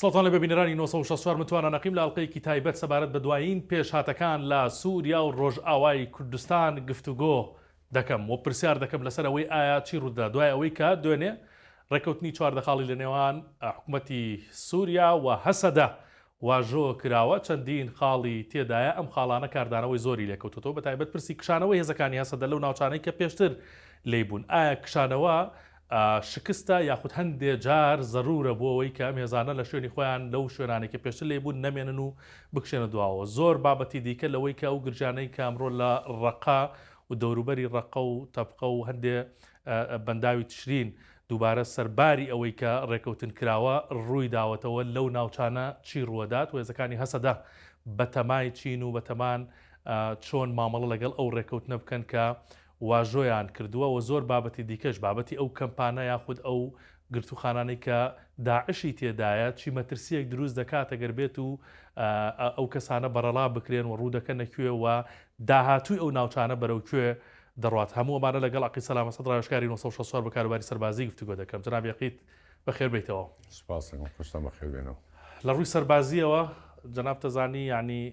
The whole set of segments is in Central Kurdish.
سڵتان لە ببینەرانی 1964 متوانە نەقیم لە ئەڵلقەیەکی تایبەت سەبارەت بە دوایین پێشهاتەکان لە سووریا و ڕۆژئاوای کوردستان گفتوگۆ دەکەم و پرسیار دەکەم لەسەر ئەوەی ئایا چی ڕوودا دوای ئەوەی کە دوێنێ ڕێکوتنی چواردەخاڵی لە نێوان حکوومەتی سووریا و هەسەدە واژۆ کراوە چەندین خاڵی تێدایە ئەم خاڵانە کاردانەوەی زۆری لێکەوتۆتەوە بەتایبەت پرسی کشانەوەی هێزەکانی هەسەدە لەو ناوچانەی کە پێشتر لێی بوون ئایا کشانەوە شکستە یاخود هەندێ جار زەرورە بۆ ئەوەی کە ئەم هێزانە لە شوێنی خۆیان لەو شوێنانەی کە پێشتر لێی بوون نەمێنن و بکشێنە دواوە زۆر بابەتی دیکە لەوەی کە ئەو گرژانەی کە ئەمڕۆ لە ڕەقە و دەوروبەری ڕەقە و تەبقە و هەندێ بەنداوی تشرین دووبارە سەرباری ئەوەی کە ڕێکەوتن کراوە ڕووی داوەتەوە لەو ناوچانە چی ڕووەدات و هێزەکانی هەسەدە بەتەمای چین و بەتەمان چۆن مامەڵە لەگەڵ ئەو ڕێکەوتنە بکەن کە واژۆیان کردووە و زۆر بابەتی دیکەش بابەتی ئەو کەمپانە یاخود ئەو گرتووخانانەی کە داعشی تێدایە چی مەترسیەک دروست دەکاتە گەر بێت و ئەو کەسانە بەڕەڵا بکرێن و ڕوو دەکەنە کوێ و داهاتووی ئەو ناوچانە بەرەو کوێ دەڕوات هەموو ئەمانە لەگەڵ عەقید سەلام ئەسەد ڕاوێژکاری نۆ سەد و شەست و چوار بە کاروباری سەربازی گفتوگۆ دەکەم جەنابی عەقید بەخێر بێیتەوە. سپاس دەکەم خۆشتان بەخێر بێنەوە. لە ڕووی سەربازییەوە جەنابت دەزانی یانی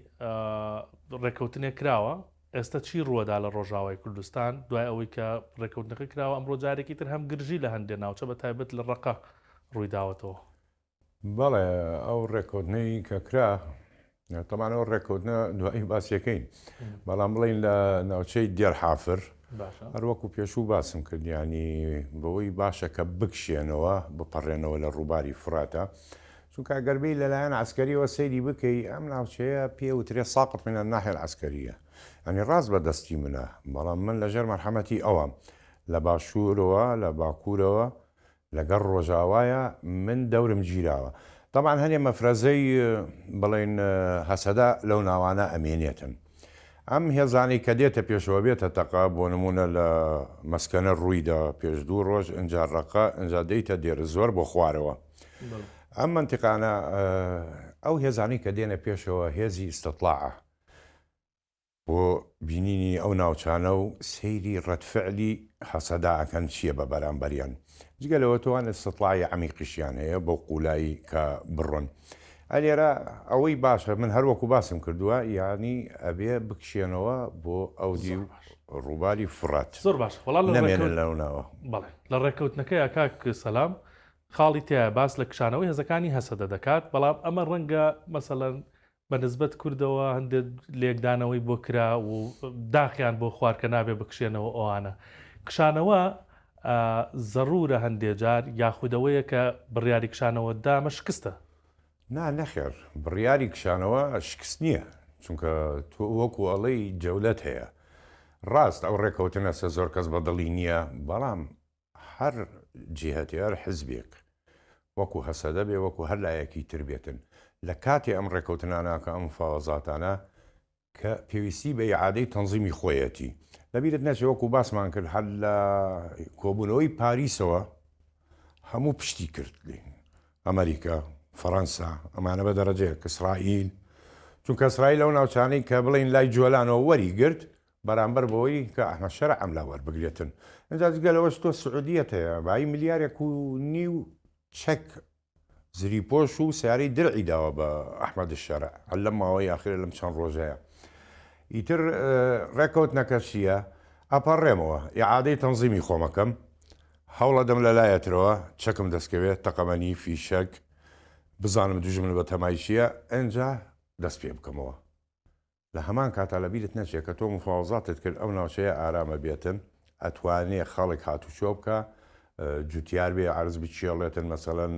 ڕێکەوتنێک کراوە ئێستا چی ڕووەدا لە ڕۆژاوای کوردستان دوای ئەوەی کە ڕێکەوتنەکە کراوە ئەمڕۆ جارێکی تر هەم گرژی لە هەندێ ناوچە بە تایبەت لە ڕقە ڕوویداوەتەوە. بەڵێ ئەو ڕێکۆدنەی کە کرا تەمان ئەو ڕێکۆدنە دوایی باسیەکەین بەڵام بڵین لە ناوچەی دێرحافر هەروەکو پێشوو باسم کردیانی بەوەی باشە کە بکشێنەوە بپەڕێنەوە لە ڕووباری فراتە چونکە گەربی لەلایەن ئاسکەریەوە سەیری بکەی ئەم ناوچەیە پێوترێ ساقت منە ناحێل ئاسکەریە ئەنی ڕاست بە دەستی منە بەڵام من لەژێر مەرحەمەتی ئەوەم لە باشوورەوە لە باکوورەوە لەگەڵ ڕۆژاوایە من دەورم گیراوە تەبعەن هەنێ مەفرەزەی بڵێن هەسەدە لەو ناوانە ئەمێنێتن ئەم هێزانەی کە دێتە پێشەوە بێتە تەقە بۆ نمونە لە مەسکەنە ڕوویدا پێش دوو ڕۆژ ئەجا ڕەقە ئەجا دەیتە دێرە زۆر بۆ خوارەوە ئەم منتیقانە ئەو هێزانی کە دێنە پێشەوە هێزی ئیسستلاعە بۆ بینینی ئەو ناوچانە و سەیری ڕەدفعلی هەسەدە ئەکەن چیە بە بەرامبەریان جگە لەوە تۆان ئیستیتڵاعی عەمیقیشیان هەیە بەو قوولایی کە بڕۆن ئە لێرە ئەوەی باشە من هەر وەکو باسم کردووە یانی ئەبێ بکشێنەوە بۆ ئەو دیو ڕووباری فڕات زۆر باش وەڵا لە نەمێنن ڕێکەوت لەو ناوە بەڵێ لە ڕێکەوتنەکەیا کاک سەلام خاڵی تیایە باس لە کشانەوەی هێزەکانی هەسەدە دەکات بەڵام ئەمە ڕەنگە مەسەلەن بە نسبەت کوردەوە هەندێ لێکدانەوەی بۆ کرا و داخیان بۆ خوار کە نابێ بکشێنەوە ئەوانە کشانەوە زەرورە هەندێ جار یاخود ئەوەیە کە بڕیاری کشانەوە دامە شکستە؟ نا نەخێر بڕیاری کشانەوە شکست نییە چونکە تۆ وەکو ئەڵێی جەولەت هەیە ڕاست ئەو ڕێکەوتنەسە زۆر کەس بەدڵی نییە بەڵام هەر جیهەتێ هەر حزبێک وەکو هەسەدە بێ وەکو هەر لایەکی تر بێتن لە کاتی ئەم ڕێکەوتنانە کە ئەم مفاوەزاتانە کە پێویستی بە ئیعادەی تەنزیمی خۆیەتی لەبیرت نەچێ وەکو باسمان کرد هەر لە کۆبوونەوەی پاریسەوە هەموو پشتی کرد لێ ئەمریکا فەڕەنسا ئەمانە بە دەرەجەیە کە ئیسرائیل چونکە ئیسرائیل ئەو ناوچانەی کە بڵین لای جۆلانەوە وەری گرت بەرامبەر بەوەی کە ئەحمەد شەرع ئەم لا وەربگرێتن ئینجا جگە لەوەش تۆ سعودیەت هەیە بایی ملیارێک و نیو چەک زری پۆش و سیارەی درعی داوە بە ئەحمەد شەرع هەر لەم ماوەی ئاخرە لەم چەند ڕۆژەیە ئیتر ڕێکەوتنەکە چییە ئەپەڕێمەوە ئیعادەی تەنزیمی خۆمەکەم هەوڵەدەم لە لایەترەوە چەکم دەستکەوێت تەقەمەنی فیشەک بزانم دوژمن بە تەمای چییە ئەنجا دەست پێ بکەمەوە لە هەمان کاتا لە بیرت نەچێ کە تۆ مفاوەزاتت کرد ئەو ناوچەیە ئارامە بێتن ئەتوانێ خەڵک هاتوچۆ بکا جوتیار بێ عەرز بچێڵێتن مەسەلەن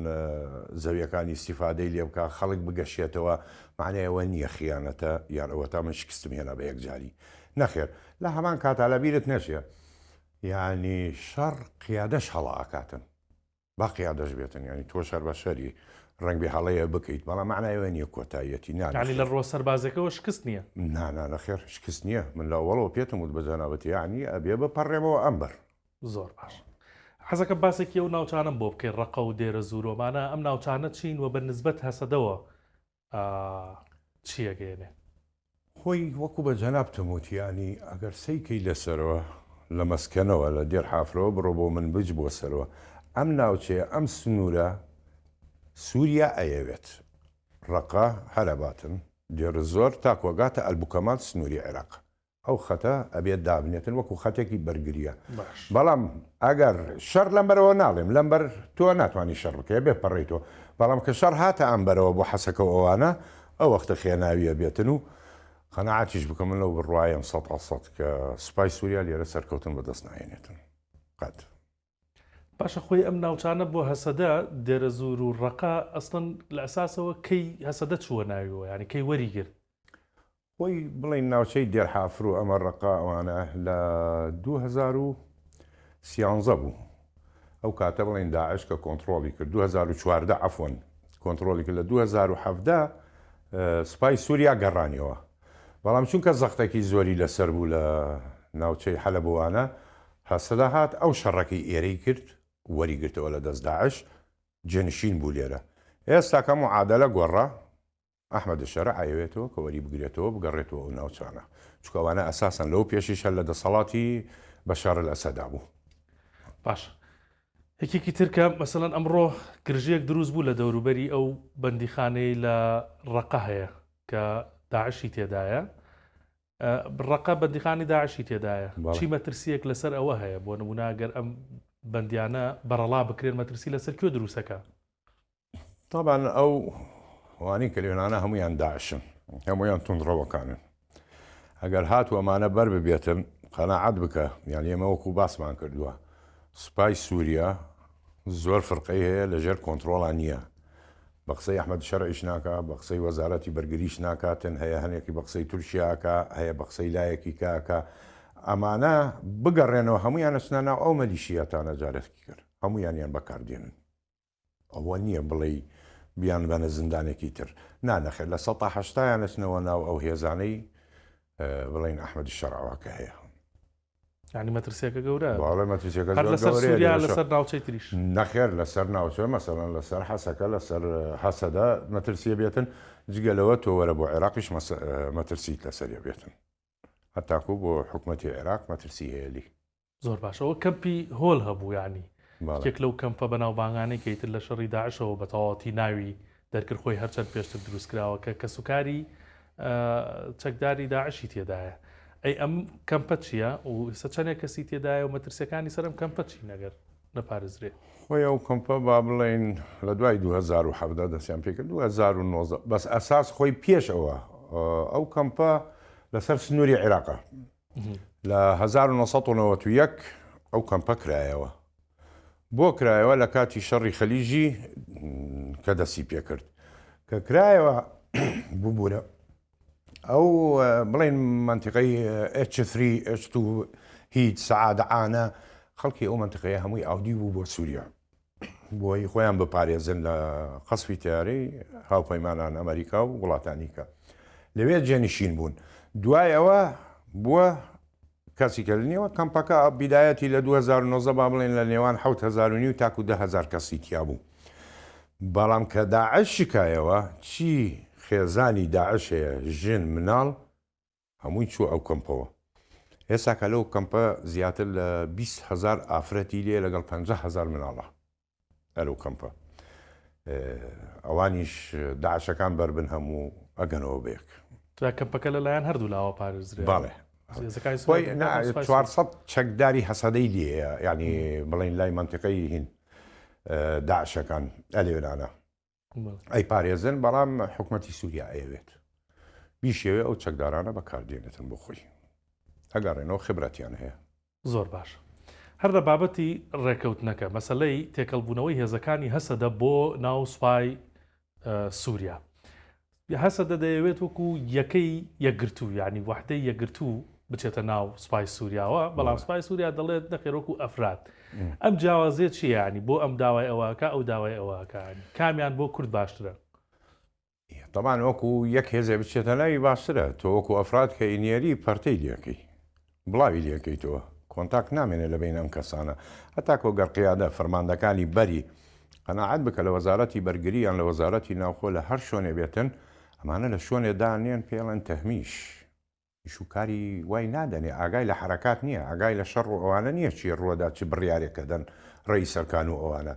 زەویەکانی ئیسیفادەی لێ بکە خەڵک بگەشێتەوە معنەیەوە نییە خیانەتە یان ئەوە تا من شکستم هێنا بە یەکجاری نەخێر لە هەمان کاتا لە بیرت نەچێ یعنی شەڕ قیادەش هەڵا ئاکاتن با قیادەش بێتن ینی تۆش هەر بەشەری ڕەنگبێ هەڵەیە بکەیت بەڵام معنای ئەوە نییە کۆتاییەتی نا یعنی لە ڕووە سەربازیەکەوە شکست نییە؟ نا نا نەخێر شکست نییە من لە ئەوەڵەوە پێتم وت بە جەنابت یعنی ئەبێ بپەڕێمەوە ئەم بەر زۆر باش حەزەکەم باسێکی ئەو ناوچانەم بۆ بکەی ڕەقە و دێرەزوور و مانا ئەم ناوچانە چین و بە نسبەت هەسەدەوە چی ئەگەیەنێ؟ خۆی وەکو بە جەنابتم وت یانی ئەگەر سەی کەی لە سەرەوە لە مەسکەنەوە لە دێر حافرەوە بڕۆ بۆ منبج بۆ سەرەوە ئەم ناوچەیە ئەم سنوورە سووریا ئەیەوێت ڕەقە هەرەباتن دێرزۆر تاکوەگاتە ئەلبوکەمال سنووری عێراق ئەو خەتە ئەبێت دابنێتن وەکو خەتێکی بەرگریە باش. بەڵام ئەگەر شەڕ لەم بەرەوە ناڵێم لەم بەر تۆ ناتوانی شەڕ بکەی ئەبێ پەڕەی تۆ بەڵام کە شەڕ هاتە ئەم بەرەوە بۆ حەسەکە و ئەوانە ئەو وەختە خێناوی ئەبێتن و قەناعەتیش بکە من لەو بڕوایەم سەتا سەت کە سوپای سوریا لێرە سەرکەوتن بەدەست ناهێنێتن قەت. باشە خۆی ئەم ناوچانە بۆ هەسەدە دێرەزوور و ڕەقە ئەسڵەن لە ئەساسەوە کەی هەسەدە چووە ناویەوە یانی کەی وەریگرت؟ خۆی بڵێین ناوچەی دێرحافر و ئەمە ڕەقە ئەوانە لە دوو هەزار و سیانزە بوو ئەو کاتە بڵێین داعش کە کۆنتڕۆڵی کرد دوو هەزار و چواردە عەفوەن کۆنتڕۆڵی کرد لە دوو هەزار و حەڤدە سوپای سووریا گەڕانیەوە بەڵام چونکە زەختەکی زۆری لەسەر بوو لە ناوچەی حەلەبوانە هەسەدەهات ئەو شەڕەکەی ئێرەی کرد وەری گرتەوە لە دەست داعش جێنشین بوو لێرە ئێستا کە معادەلە گۆڕا ئەحمەد شەرع ئەیەوێتەوە کە وەری بگرێتەوە بگەڕێتەوە ئەو ناوچانە چونکە ئەوانە ئەساسەن لەوە پێشیش هەر لە دەسەڵاتی بەشار الاسەدا بوو. باشە یەکێکی تر کە مەسەلەن ئەمڕۆ گرژیەک دروست بوو لە دەوروبەری ئەو بەندیخانەی لە ڕەقە هەیە کە داعشی تێدایە ڕەقە بەندیخانەی داعشی تێدایە، چی مەترسییەک لەسەر ئەوە هەیە؟ بۆ نموونە گەر ئەم بەندیانە بەڕەڵا بکرێن مەترسی لەسەر کوێ دروستەکا؟ تابان ئەو وانی کە لێنانە هەمویان داعشن هەمویان تونڕەوەکانن ئەگەر هات وەمانە بەر ببێتن قەنەعات بکە یان ئێمە وەکو باسمان کردووە سوپای سووریا زۆر فرقەی هەیە لەژێر کۆنترۆڵا نیە بە قسەی ئەحمەد شەرعیش ناکا بە قسەی وەزارەتی بەرگریش ناکاتن هەیە هەنێکی بە قسەی تورکیا ئەکا هەیە بە قسەی لایەکی کە ئەکا ئەمانە بگەڕێنەوە هەمویان ئەچنە ناو ئەو مەلیشیاتانە جارێکی کرد هەمویانیان بەکاردێنن ئەوە نییە بڵێ بیان بەنە زیندانێکی تر نانەخێت لە سە هەشتایان ئەچنەوە ناو ئەو هێزانەی بڵین ئەحمەدی شەرعەوە کە هەیە یعنی مەترسیەکە گەورە باڵێ مەترسیەکە لەسەر سوریا لەسەر ناوچەی تریش نەخێر لەسەر ناوچە مەسەلەن لەسەر حەسەکە لەسەر حەسەدا مەترسیە بێتن جگەلەوە تۆ وەرە بۆ عێراقیش مەترسیت لەسەریە بێتن هەتاکو بۆ حکوومەتتی عێراق مەترسی هەیەلی زۆر باشەوە کەمپی هۆل هەبوو ینی یەک لەو کەمپە بەناوبانگانەی کەیتر لە شەڕی داعشەوە بە تەواتی ناوی دەرکرد خۆی هەرچەند پێشتر دروستکراوە کە کەسوکاری چەکداری داعشی تێدایە ئەی ئەم کەمپە چییە و ئستا چەندێک کەسی تێدایە و مەترسیەکانی سەرم کەمپە چی نەگەر نەپارێزرێ خۆی ئەو کەمپە با بڵێن لە دوای 2017 دەستیان پێکرد 2009 بەس ئەساس خۆی پێشەوە ئەو کەمپە لەسەر سنووری عێراقە لە 1991 ئەو کەمپە کرایەوە بۆ کرایەوە لە کاتی شەڕی خەلیژی کە دەسی پێکرد کە کرایەوە ببوورە ئەو بڵین منتیقی H3 H2 هیچ سەعادعاە خەڵکی ئەو منتقەیە هەمووی ئاودی بوو بۆ سووریا بۆی خۆیان بپارێزن لە قەسفی تیارەی هاوپەیمانان ئەمریکا و وڵاتانیکە لەوێ جێنشین بوون دوای ئەوە بووە کەسی کردنیەوە کەمپەکە بیدایەتی لە 2009 با بڵێن لە نێوان 1970 تاکو دههزار کەسی تیا بوو بەڵام کە داعش شکایەوە چی خێزانی داعش هەیە ژن مناڵ هەمووی چووە ئەو کەمپەوە. ئێستا کە لەو کەمپە زیاتر لە بیست هەزار ئافرەتی لێ لەگەڵ پەنجا هەزار مناڵە لەو کەمپە. ئەوانیش داعشەکان بەر بن هەموو ئەگەنەوە بەیەک. جا کەمپەکە لە لایەن هەردوو لاوە پارێزرا. بەڵێ. هێزەکانی سوپای کوردستان سوپای سوپای. چوار سەد چەکداری هەسەدەی لێیە یانی بڵێین لای مەنتیقەی هین داعشەکان ئەلێنانا. ئەیپارێزن بەڵام حکوومەتی سووریا ئەیەوێت بیشێوێ ئەو چەکدارانە بەکاردێنێتن بۆ خۆی ئەگەڕێنەوە خبرەتیان هەیە زۆر باش هەر لە بابەتی ڕێکەوتنەکە مەسلەی تێکەڵبوونەوەی هێزەکانی هەسەدە بۆ ناو سوپای سووریا هەسەدە دەیەوێت وەکو یەکەی یەکگرتوو یانی وەحدەی یەکگرتوو بچێتە ناو سوپای سوریاوە، بەڵام سوپای سوریا دەڵێت نەخێر وەکو ئەفراد. ئەم جیاوازیە چیە یانی بۆ ئەم داوای ئەوە ئەکا ئەو داوای ئەوە ئەکا یانی کامیان بۆ کورد باشترە؟ تەبان وەکو یەک هێزێ بچێتە ناوی باشترە، تۆ وەکو ئەفراد کە ئینیەری پەرتەی لێکەی بڵاوی لێکەیتەوە کۆنتاک نامێنێ لە بەین ئەم کەسانە هەتاکۆ گەر قیادە فەرماندەکانی بەری قەناعەت بکە لە وەزارەتی بەرگری یان لە وەزارەتی ناوخۆ لە هەر شۆنێ بێتن ئەمانە لە شۆنێ دانێن پێڵێن تەهمیش ئیش و کاری وای نادەنێ ئاگای لە حرەکات نییە ئاگای لە شەڕ و ئەوانە نییە چی ڕوەدا چ بڕیارێکە دەن ڕێی سەرکان و ئەوانە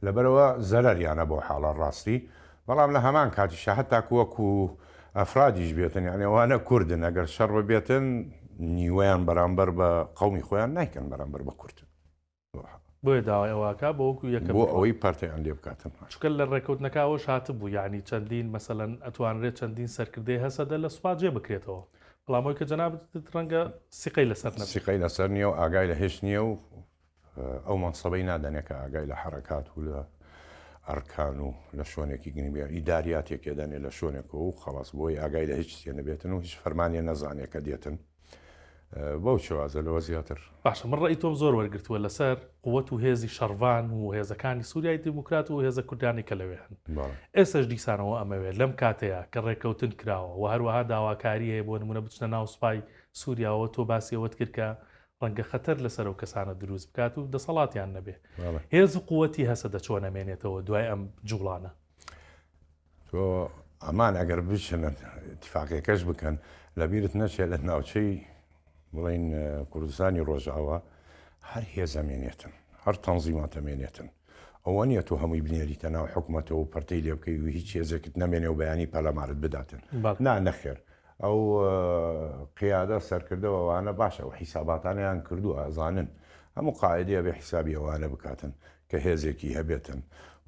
لەبەرئەوە زەرەریانە بەو حاڵە ڕاستی، بەڵام لە هەمان کاتیشدا هەتاکو وەکو ئەفرادیش بێتن یانی ئەوانە کوردن ئەگەر شەڕ ببێتن نیوەیان بەرامبەر بە قەومی خۆیان نایکەن بەرامبەر بە کورد بەو حاڵە. بۆیە داوای ئەوە ئەکا بۆ وەکو یەکەم بۆ بکەوە. ئەوەی پەرتەیان لێ بکاتن. چونکە لە ڕێکەوتنەکە ئەوەش هاتبوو یانی چەندین مەسەلەن ئەتوانرێت چەندین سەرکردەی هەسەدە لە سوپا جێ بکرێتەوە بەڵام ئەوەی کە جەنابت وتت ڕەنگە سیقەی لەسەر نەبێت. سیقەی لەسەر نییە و ئاگای لە هێچ نییە و ئەو مەنسەبەی نادەنێ کە ئاگای لە حەرەکات و لە ئەرکان و لە شۆنێکی گنگ بێ، ئیداریات یەکێ دەنێ لە شۆنێکەوە و خەڵاس بۆی ئاگای لە هیچ چیێ نەبێتن و هیچ فەرمانێ نەزانێ کە دێتن بەو چێوازە لەوە زیاتر. باشە من ڕەئی تۆم زۆر وەرگرتووە لەسەر قوت و هێزی شەڕڤان و هێزەکانی سوریای دیموکرات و هێزە کوردیانەی کە لەوێ هەن ئێستەش دیسانەوە ئەمەوێ لەم کاتەیا کە ڕێکەوتن کراوە وە هەروەها داواکاری هەیە بۆ نمونە بچنە ناو سوپای سوریاوە تۆ باسی ئەوەت کرد کە ڕەنگە خەتەر لەسەر ئەو کەسانە دروست بکات و دەسەڵاتیان نەبێ هێز و قوەتی هەسەدە چۆن نەمێنێتەوە دوای ئەم جوڵانە تۆ ئەمان ئەگەر بچنە تفاقیەکەش بکەن لەبیرت نەچێت لە ناوچەی بڵین کوردستانی ڕۆژاوە هەر هێزەمێنێتن هەر تەنزیماتەمێنێتن ئەوە نیە تۆ هەمووی بنێریتە ناو حکوومەتەوە پرتەی لێ بکەی و هیچ هێزێکت نەمێنێ و بەیانی پەلامارت بداتن نا نەخێر ئەو قیادە سەرکردەوەوانە باشە و حیساباتانیان کردووە ئەزانن هەموو قاعدەیە بێ حیسابی ئەوانە بکاتن کە هێزێکی هەبێتن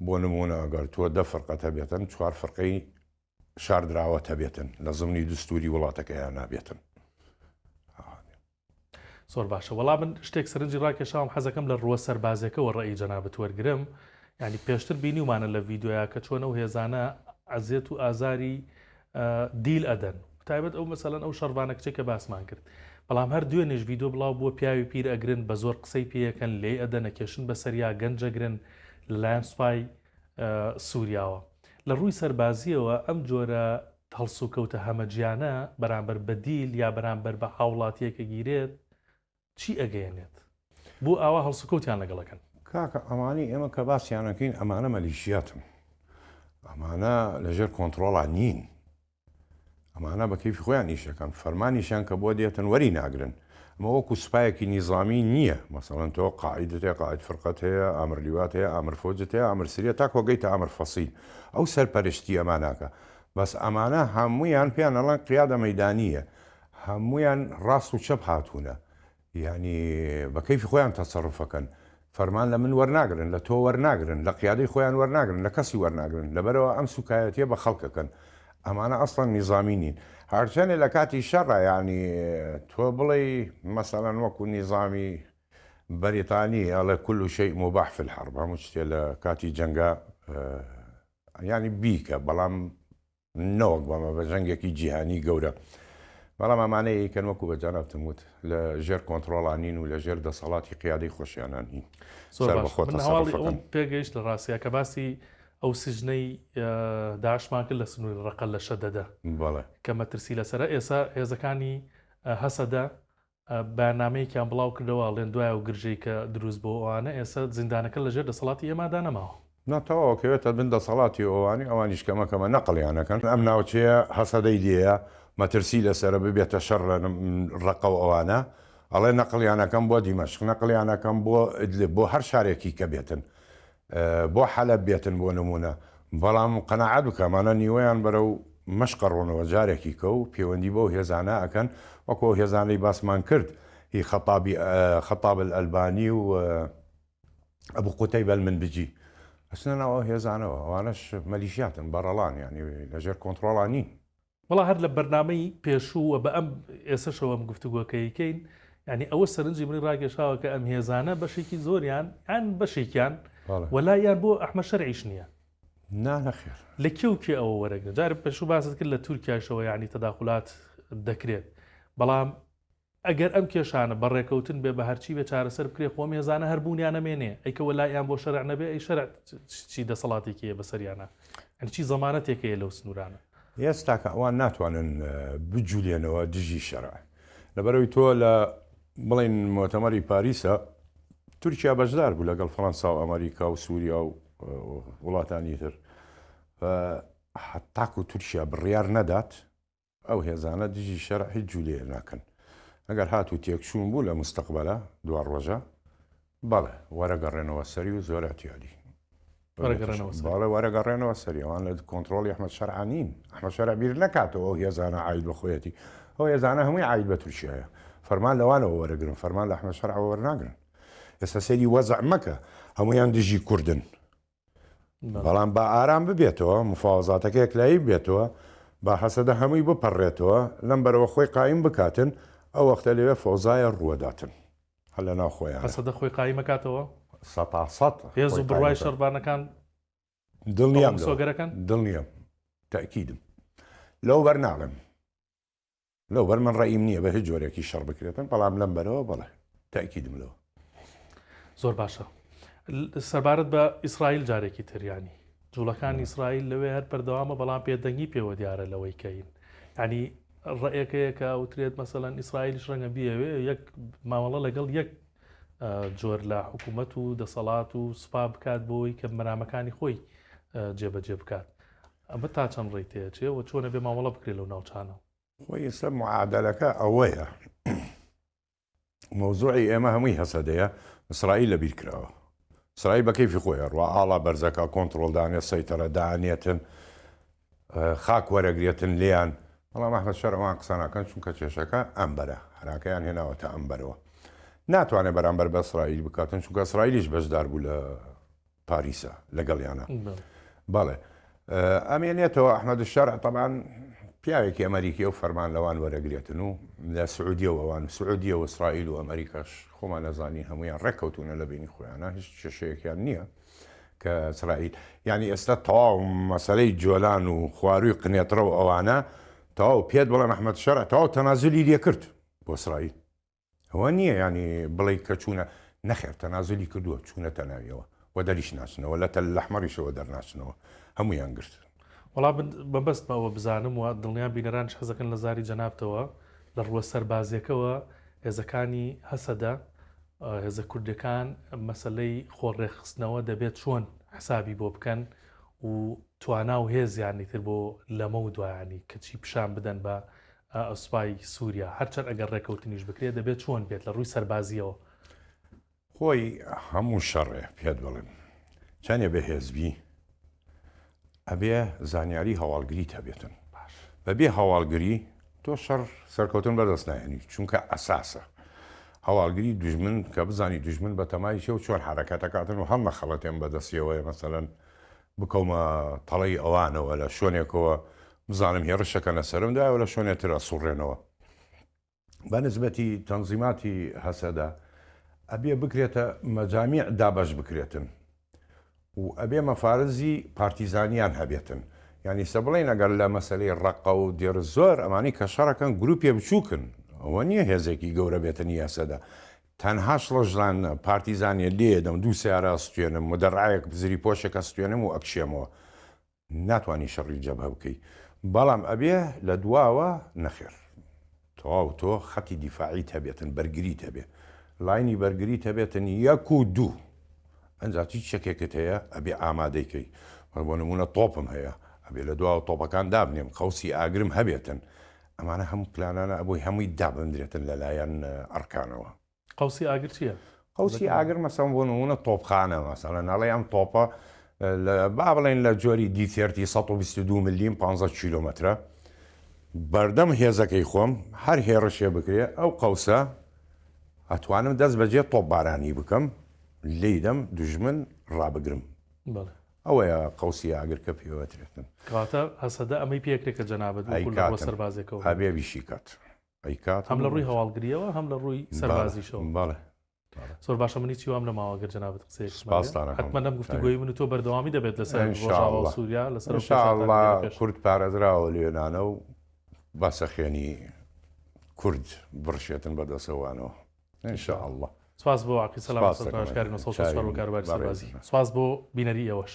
بۆ نمونە ئەگەر تۆ دە فرقەتە بێتن چوار فرقەی شاردراوە تەبێتن لە زمنی دوستوری وڵاتەکەیان نابێتن. زۆر باشە وەڵا من شتێک سەرنجی ڕاکێشاوم حەزەکەم لە ڕووە سەربازەکەەوە ڕێی جەنابەت وەرگرم ینی پێشتر بینیومانە لە ڤیددیویا کە چۆنە و هێزانە ئەزیێت و ئازاری دیل ئەدەن تایبەت ئەو مەسەلەن ئەو شەربانە کچێک کە باسمان کرد بەڵام هەر دوێنێش ڤیددیو بڵاو بووە پیاوی پیر ئەگرن بە زۆر قسەی پێیەکەن لێ ئەدەنە کێشن بە سەریا گەنجەگرن لەلایەن سوپای سوریاوە. لە ڕووی سەربازییەوە ئەم جۆرە هەڵسوکەوتە هەمەجیانە بەرامبەر بە دیل یا بەرامبەر بە هاوڵاتییەک کە گیرێت چی ئەگەیەنێت؟ بۆ ئاوا هەڵسوکەوتیان لەگەڵ ئەکەن؟ کاکە ئەمانەی ئێمە کە باسیان ئەکەین ئەمانە مەلیشیاتن ئەمانە لەژێر کۆنتڕۆڵا نین ئەمانە بە کەیفی خۆیان ئیش دەکەن، فەرمانیشیان کە بۆ دێتن وەری ناگرن. ئەمە وەکوو سوپایەکی نیزامی نییە، مەسەڵەن تۆ قائیدت هەیە، قائید فرقەت هەیە، ئامر لیوات هەیە، ئامر فەوجت هەیە، ئامر سریەت تا کۆگەیتە ئامر فەسیل، ئەو سەرپەرشتی ئەمان ئەکا. بەس ئەمانە هەموویان پێیان ئەڵێن قیادە مەیدانییە. هەموویان ڕاست و چەپ هاتوونە. یانی بە کەیفی خۆیان تەسەروف ئەکەن فەرمان لە من وەرناگرن لە تۆ وەرناگرن لە قیادەی خۆیان وەرناگرن لە کەسی وەرناگرن لەبەرئەوە ئەم سوکایەتیە بە خەڵک ئەکەن ئەمانە ئەسڵەن نیزامی نین هەرچەنێ لە کاتی شەڕە یانی تۆ بڵێی مەسەلەن وەکو نیزامی بەریتانی ئەڵێ کل و شەی مباح فی الحرب هەموو شتێ لە کاتی جەنگا یانی بیکە بەڵام نەوەک بەڵێ بە جەنگێکی جیهانی گەورە. بەڵام ئەمانەی ئەیکەن وەکو بە جەنابتم وت لە ژێر کۆنتڕۆڵا نین و لە ژێر دەسەڵاتی قیادەی خۆشیانە نین. زۆر باشە. سەربەخۆ من هەواڵی تەسەڕوف ئەوم ئەکەن. پێگەیشت لە ڕاستیا کە باسی ئەو سجنەی داعشمان کرد لە سنووری ڕەقە لە شەدەدە بەڵێ. کە مەترسی لەسەرە. ئێستا هێزەکانی هەسەدە بەیاننامەیەکیان بڵاو کردەوە ئەڵێن دوای ئەو گرژەی کە دروست بۆ ئۆانە ئێسە زیندانەکە لە ژێر دەسەڵاتی ئێمادا نەماوە. نا تەواو ئەکەوێتە بن دەسەڵاتی ئۆانی ئەوانیش کەمە کەمە نەقڵیان ئەکەن ئەم ناوچەیە هەسەدەی لێیە مەترسی لەسەرە ببێتە شەڕ لە ڕەقەو ئەوانە ئەڵێن نەقڵیان ئەکەم بۆ دیمەشق نەقڵیان ئەکەم بۆ ئیدلب بۆ هەر شارێکی کە بێتن بۆ حەلەب بێتن بۆ نموونە، بەڵام قەناعەت بکە ئەمانە نیوەیان بەرەو مەشق ئەڕۆنەوە جارێکیکە و پێوەندی بەو هێزانە ئەکەن وەکو ئەو هێزانەی باسمان کرد هی خەتابی خەتاب الالبانی و ابو قتیبە المنبجی ئەچنە ناو ئەو هێزانەوە ئەوانەش مەلیشیاتن بەڕەڵان یانی لەژێر کۆنتڕۆڵا نین. وەڵا هەر لە بەرنامەی پێشوو و بە ئەم ئێسەشەوە ئەم گفتوگۆکەیکەین یانی ئەوە سەرنجی منی ڕاگەشاوە کە ئەم هێزانە بەشێکی زۆریان یان بەشێکیان وەلا یان بۆ ئەحمە شەرعیش نییە نانەخێر لە کێ و کێ ئەوە وەرەگرن جارە پێشوو باست کرد لە تورکایشەوە یانی تەداخلات دەکرێت بەڵام ئەگەر ئەم کێشانە بە ڕێکەوتن بێ بە هەرچی بێ چارەسەر بکرێ خۆ ئەم هێزانە هەر بوونیان ئەمێنێ ئەی کە وەلائیان بۆ شەرع نەبێ ئەی شەرع چی دەسەڵاتێکی هەیە بەسەریانا یانی چی زەمانەتێک هەیە لەو سنوورانە. یەس تاکە ئەوان ناتوانن بجولێنەوە دژی شەرع لەبەرەوەی تۆ لە بڵێن مۆتەمەری پاریسە تورکیا بەشدار بوو لەگەڵ فەرەنسا و ئەمەریکا و سووریا و وڵاتانی تر تاکو تورکیا بڕیار نەدات ئەو هێزانە دژی شەرع هیچ جولەیەک ناکەن ئەگەر هاتوو تێکچوون بوو لە موستەقبەلا دوا ڕۆژە بەڵێ وەرە گەڕێنەوە سەری و زۆر ئەتیادی باڵێ وەرە گەڕێنەوە سەری ئەوان لە کۆنتترۆڵ ئەحمد شەرعانین ئەحمە شەرع بیر نکاتەوە ئەو هێزانە ئاید بە خۆیەتی ئەو هێزانە هەمووی ئاید بە تورکیایە فەرمان لەوانەوە وەرەگرن فەرمان لە ئەحمە شەرعەوە وەرناگرن ئێستا سەری وەزع مەکە هەمویان دژی کوردن بەڵام با ئارام ببێتەوە، مفاوەزاتەکە یەکلایی ببێتەوە، با هەسەدە هەمووی بپەڕێتەوە، لەم بەرەوە خۆی قایم بکاتن، ئەو وەختە لەوێ فەوزایە ڕووەداتن هەر لە ناو خۆیانە. هەسەدە خۆی قایم ئەکاتەوە؟ سەتا سەت. هێز و بڕوای شەڕڤانەکان ئەوە مسۆگەر ئەکەن؟ دڵنیام لەوە، دڵنیام، تەئکیدم لەوە بەر ناڵێم. لەوبەر من ڕەئیم نییە بە هیچ جۆرێکی شەڕ بکرێتن بەڵام لەم بەرەوە بەڵێ تاکیدم لەوە. زۆر باشە سەبارەت بە ئیسرائیل جارێکی تریانی جوڵەکانی ئیسرائیل لەوێ هەر بەردەوامە بەڵام پێدەنگی پێوە دیارە لەوەی کەین ینی ڕێەکەیەکە وترێت مەسەەن ئیسرائیلش ڕەنگە بیەوێ یەک مامەڵە لەگەڵ یەک جۆر لە حکوومەت و دەسەڵات و سوپا بکات بۆی کە مەرامەکانی خۆی جێبەجێ بکات ئەمە تا چەند ڕێی تێەچێ و چۆنە بێ مامەڵە بکرێ لەو ناوچانە؟ خۆی ئێستا معادەلەکە ئەوەیە مەوزوعی ئێمە هەمووی هەسەدەیە ئیسرائیل لەبیر کراوە ئیسرائیل بە کەیفی خۆی ئەڕوا ئاڵا بەرزەکە کۆنتڕۆڵ دانێ سەیتەرە دانێتن خاک وەرەگرێتن لێیان بەڵام ئەحمەد شەر ئەوان قسە ناکەن چونکە کێشەکە ئەم بەرە هەراکەیان هێناوەتە ئەم بەرەوە ناتوانێت بەرامبەر بە ئیسرائیل بکاتن چونکە ئیسرائیلیش بەشدار بوو لە پاریسە لەگەڵیانە بەڵێ ئەمێنێتەوە ئەحمەد شەرع تەبان پیاوێکی ئەمریکیە و فەرمان لەوان وەرەگرێتن و لە سعودیە و ئەوان سعودیە و ئیسرائیل و ئەمریکاش خۆمان نەزانین هەمویان ڕێککەوتونە لە بینی خۆیانە هیچ کێشەیەکیان نییە کە سرائیل ینی ئێستا تەواو مەسەرەی جۆلان و خواروی قنێتڕە و ئەوانە تەواو پێت بڵێ مححمد شەرع تەواو تەنازلی لێکرد بۆ سرائیل ئەوە نییە یانی بڵێی کە چوونە، نەخێر تەنازولی کردووە چوونەتە ناویەوە و دەریشناسنەوە، لە تەلەحمەریشەوە دەرناچنەوە، هەموویان گرتن. وەڵا من مەبەستمە ئەوە بزانم و دڵنیام بینەرانیش حەز دەکەن لە زاری جەنابتەوە لە ڕووە سەربازیەکەوە هێزەکانی هەسەدە هێزە کوردیەکان مەسەلەی خۆ ڕێکخستنەوە دەبێت چۆن حسابی بۆ بکەن و توانا و هێزیان ئیتر بۆ لەمەو دوایانی کەچی پیشان بدەن بە سوپای سوریا هەرچەند ئەگەر ڕێکەوتنیش بکرێت دەبێت چۆن بێت لە ڕووی سەربازیەوە. خۆی هەموو شەڕێ پێت بڵێم چەندێ بەهێزبی ئەبێ زانیاری هەواڵگری تەبێتن بەبێ هەواڵگری تۆ شەڕ سەرکەوتن بەدەست نایێنی چونکە ئەساسە هەواڵگری دژمن کە بزانی دژمن بەتەمای چێ و چۆن حرەکەتەکاتن و هەم مەخەڵەتێن بەدەستیەوەی مەسەەن بکەومە تەڵەی ئەوانەوە لە شوێنێکەوە بزانم هێڕشەکەنە سەرم داوە لە شوێنێ ترە سوڕێنەوە بە نسبەتی تەنزیماتی هەسەدە ئەبێ بکرێتە مەجامی دابەش بکرێتن و ئەبێ مەفارزی پارتیزانیان هەبێتن ینی سە بڵێن ئەگەر لە مەسلەی ڕقە و دێر زۆر ئەمانی کە شەڕەکەن گروپێ بچووکن ئەوە نییە هێزێکی گەورە بێتن یاسەدا تەنها شڵەژلان نە، پارتیزانیە لێیەدەم، دوو سەیارە ئەستوێنم، مدەڕعەیەک زریپۆشێک ئەستوێنم و ئەکشێمەوە. ناتوانی شەڕی جەبهە بکەی، بەڵام ئەبێ لە دواوە. نەخێر تەواو تۆ خەتی دیفاعیت هەبێتن، بەرگریت هەبێ، لاینی بەرگریت هەبێتن یەک و دوو. ئەنجا هیچ چەکێکت هەیە ئەبێ ئامادەی کەی. من بۆ نموونە تۆپم هەیە، ئەبێ لە دواوە تۆپەکان دابنێم، قەوسی ئاگرم هەبێتن، ئەمانە هەموو پلانانە ئەبووی هەمووی دابندرێتن لەلایەن ئەڕکانەوە. قوسی ئاگر چیە؟ قوسی ئاگر مەسەم بۆ نمونە تۆپخانە مەسەلە ناڵێ ئەم تۆپە با بڵێن لە جۆری دیتێرتی 122 ملیم 15 کیلومترە بەردەم هێزەکەی خۆم هەر هێڕشێ بکرێ ئەو قەوسە ئەتوانم دەست بەجێ تۆپبارانی بکەم لیدەم دژمن ڕابگرم ئەوەیە قەوسی ئاگر کە پێوەترێتن. کەواتە هەسەدە ئەمەی پێکرێت کە جەنابت وەکو لە ڕووە سەربازیەکەوە بڵێیت. ئەبێ ئیشی کات. ئەیکات. هەم لە ڕووی هەواڵگریەوە هەم لە ڕووی سەربازیشەوە. بەڵێ. زۆر باشە من هیچی وام نەماوە گەر جەنابت قسەیەکت مابێت. سوپاستان ئەکەم. حەتمەن ئەم گفتوگۆی من و تۆ بەردەوامی دەبێت لەسەر ڕۆژاوا و سوریا لەسەر ئەو کێشانە. ان شاء اللە کورد پارێزراوە لە یۆنانەو با سەخێنی کورد بڕشێتن بە دەسەوانەوە. ان شاء اللە. سپاس بۆ عەقید سەلام لەسەر توانجکاری نۆ سەد و شەست و چوار بۆ کاروباری سەربازی. سپاس بۆ بینەری ئێوەش.